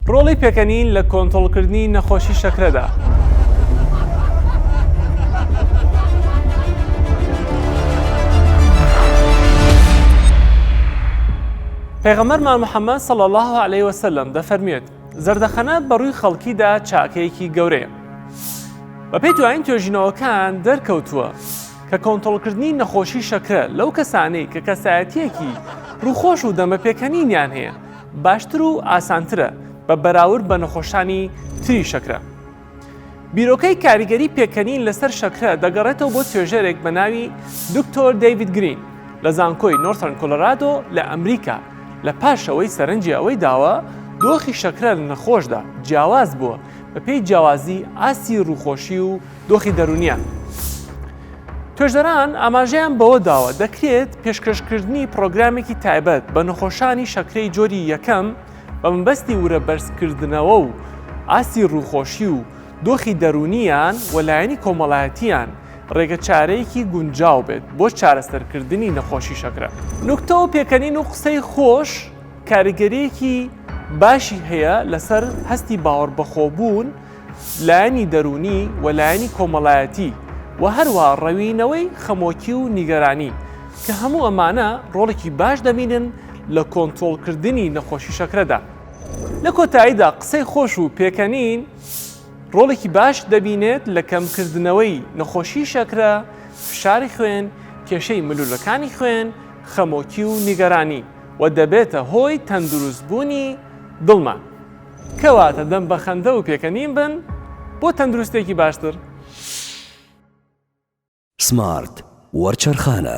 ڕۆڵی پێکەنین لە کۆنترۆڵکردنی نەخۆشی شەکرەدا. پێغەمبەرمان محەممەد صلی الله علیه وسلم دەفەرموێت زەردەخەنە بە ڕووی خەڵکیدا چاکەیەکی گەورەیە. بەپێی دوایین توێژینەوەکان دەرکەوتووە کە کۆنترۆڵکردنی نەخۆشی شەکرە لەو کەسانەی کە کەسایەتیەکی ڕووخۆش و دەمە پێکەنینیان هەیە باشتر و ئاسانترە بە بەراورد بە نەخۆشانی تری شەکرە. بیرۆکەی کاریگەری پێکەنین لەسەر شەکرە دەگەڕێتەوە بۆ توێژەرێک بە ناوی دکتۆر دەیوید گرین لە زانکۆی نۆرثرن کۆلۆرادۆ لە ئەمریکا لە پاشەوەی سەرنجی ئەوەی داوە دۆخی شەکرە لە نەخۆشدا جیاواز بووە بەپێی جیاوازی ئاستی ڕووخۆشی و دۆخی دەروونیان. توێژەران ئاماژەیان بەوە داوە دەکرێت پێشکەشکردنی پرۆگرامێکی تایبەت بە نەخۆشانی شەکرەی جۆری یەکەم بە مەبەستی ورە بەرزکردنەوە و ئاستی ڕووخۆشی و دۆخی دەروونیان و لایەنی کۆمەڵایەتیان ڕێگە چارەیەکی گونجاو بێت بۆ چارەسەرکردنی نەخۆشی شەکرە. نوکتە و پێکەنین و قسەی خۆش کاریگەریەکی باشی هەیە لەسەر هەستی باوەڕبەخۆبوون، لایەنی دەروونی و لایەنی کۆمەڵایەتی و هەروا ڕەوینەوەی خەمۆکی و نیگەرانی کە هەموو ئەمانە ڕۆڵێکی باش دەبینن لە کۆنترۆڵکردنی نەخۆشی شەکرەدا. لە کۆتاییدا قسەی خۆش و پێکەنین ڕۆڵێکی باش دەبینێت لە کەمکردنەوەی نەخۆشی شەکرە، فشاری خوێن، کێشەی ملولەکانی خوێن، خەمۆکی و نیگەرانی و دەبێتە هۆی تەندروستبوونی دڵمان. کەواتە دەم بە خەندە و پێکەنین بن بۆ تەندروستێکی باشتر. سمارت وەرچەرخانە.